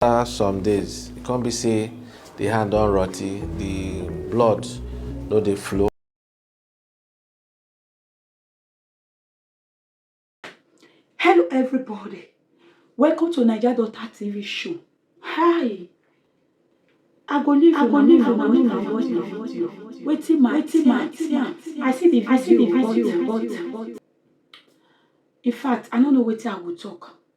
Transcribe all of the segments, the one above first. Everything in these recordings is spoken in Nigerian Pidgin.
After some days, e come be say the hand don rotty, the blood no dey flow. Hello everybody, welcome to Naija Daughter TV show. Hi, I go leave I go leave una make una watch the video. Wetin my wetin my team, I see the video, I see the video, but in fact I no know wetin I go talk.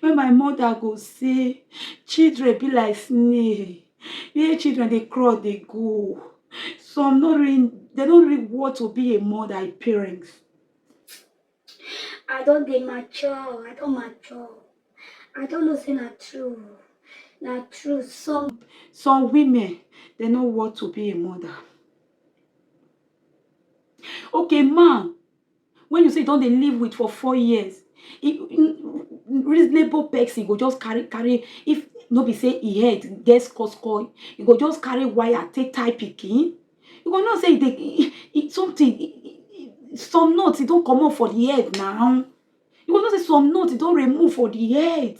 When my mother go say, children be like snail, where children dey crawl dey go. Some no really, they don't really want to be a mother, a parent. I don dey mature, I don mature. I don know say na true, na true. Some some women they no want to be a mother. Okay, man wey you say you don dey live with for four years, reasonable pesin go just carry carry if no be say e head get skoskoi, e go just carry wire take tie pikin? You go know say e dey something some nut don comot for di head na. You go know say some nut don remove for di head.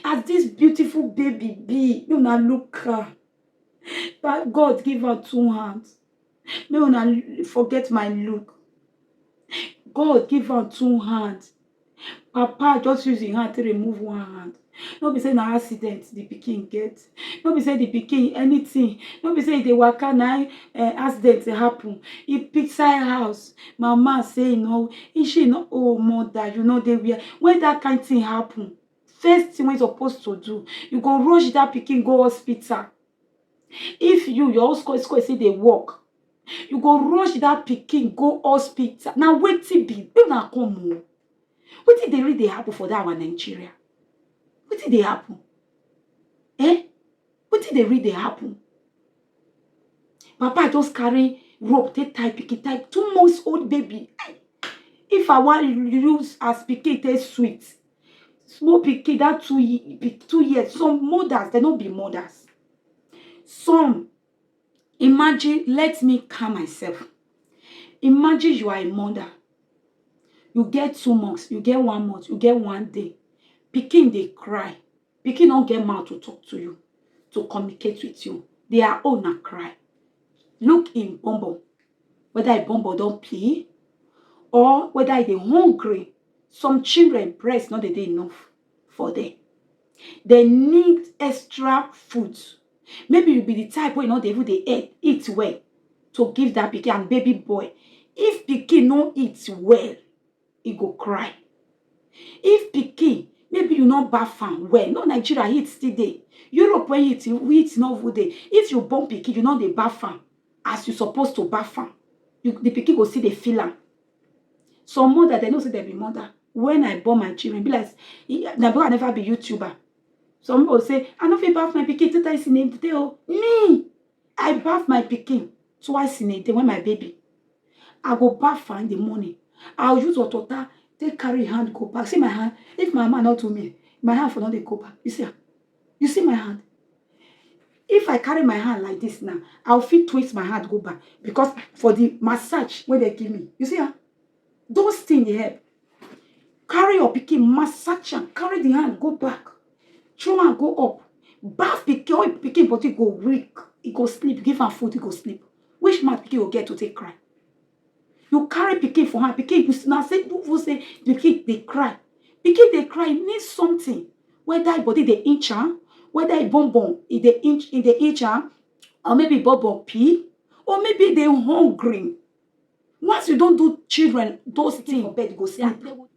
As dis beautiful baby be, make una look am. Na God give am two hands. Make una forget my look. God give am two hand. Papa just use im hand take remove one hand. No be say na accident the pikin get. No be say the pikin anything. No be say e dey waka na im eh, accident happen. E pick side house. Mama say e no, e she no oh mother you no dey where. When that kind thing happen, first thing wey you suppose to do, you go rush that pikin go hospital. If you, your own skoy skoy still dey work, you go rush that pikin go hospital. Na wetin be? Make una come o. Oh. Wetin dey really dey happen for that our Nigeria? Wetin dey happen? Eh? Wetin dey really dey happen? Papa just carry rope take tie pikin, tie two months old baby. If I wan use as pikin take sweet, small pikin that two ye two years some mothers dem no be mothers some imagine let me calm myself imagine you are a mother you get two months you get one month you get one day pikin dey cry Pikin no get mouth to talk to you, to communicate with you. Their own na cry. Look him bumbo, whether him bumbo don pee or whether e dey hungry. Some children breast no dey dey enough for them. They need extra food. Maybe you be the type wey no dey even dey eat- eat well to give that pikin and baby boy. If pikin no eat well, e go cry. If pikin maybe you no baff am well, no Nigeria heat still dey, Europe wey heat heat no even dey, if you born pikin you no dey baff am as you suppose to baff am, you the pikin go still dey feel am. Some mother dem know sey dem be mother, when I born my children e be like sey na because I never be youtuber, some pipu go say I no fit baff my pikin tey tey oo, me I baff my pikin twice in a day when my baby. I go baff her in the morning. I'll use hot water, take carry hand, go back. See my hand. If my mama not to me, my hand for not they go back. You see, you see my hand. If I carry my hand like this now, I'll feel twist my hand go back because for the massage when they give me. You see her. Those things dey help. Carry your pikin, massage am, carry the hand go back, throw am go up, baff pikin, wey pikin body go weak, e go sleep, give am food, e go sleep. Which mouth pikin go get to take cry? You carry pikin for hand, pikin you na say you feel say the pikin dey cry. Pikin dey cry, e mean something. Whether e body dey inch am, whether e bum bum e dey inch e dey inch am, or maybe e bum bum pee, or maybe e dey hungry. Once you don do children those things for bed, you go see am.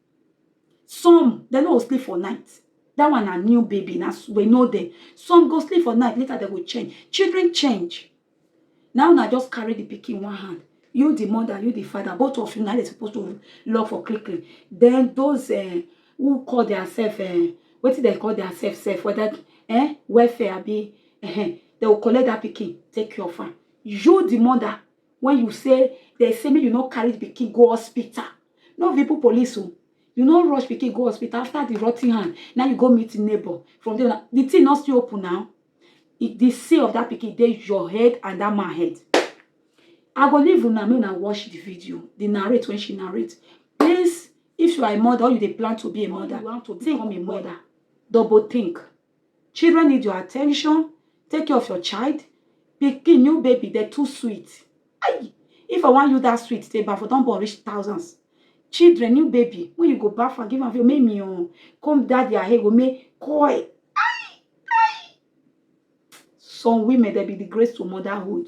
Some, they no go sleep for night. That one na new baby, na we know them. Some go sleep for night, later they go change. Children change. Now na just carry the pikin one hand. You, the mother, you, the father, both of you, now they supposed to love for quickly. Then those uh, who call themselves, uh, eh, what did they call themselves, self, whether eh, welfare, be, uh, eh, they will collect that pikin, take care of her. You, the mother, when you say they say make you no carry the pikin go hospital no be people police o you no rush pikin go hospital after the rotting hand now you go meet neighbor from there na- the thing no still open now If the say of that pikin dey your head and that man head i go leave una make una watch the video the narrate when she narrate please if you are a mother or you dey plan to be a mother you want to become a mother double think Children need your attention. Take care of your child. Pikin, new baby, they're too sweet. Aye. If I want you that sweet, they buy for don't born reach thousands. Children, new baby, when you go back and give them your make me on. Come daddy, I go make koi. Aye. Aye. Some women, they be the grace to motherhood.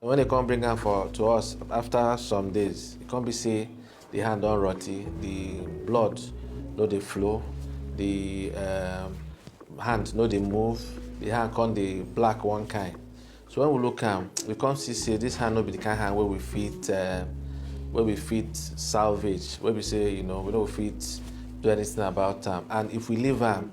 And wen dem kon bring am for to us afta some days, e kon bi sey di hand don rotti, di blood no dey flow, di hand no dey move, di hand kon dey black one kind. So wen we look am, we kon si sey dis hand no bi di kind hand wey we fit wey we fit salvage, wey be sey you know, we no go fit do anytin about am and if we leave am.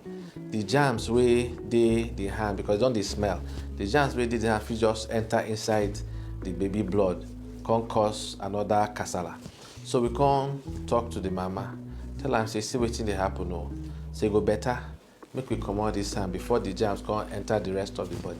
the germs wey dey the hand because e don dey smell the germs wey dey the hand fit just enter inside the baby blood come cause another kasala so we come talk to the mama tell am say see wetin dey happen o say e go better make we comot this hand before the germs come enter the rest of the body.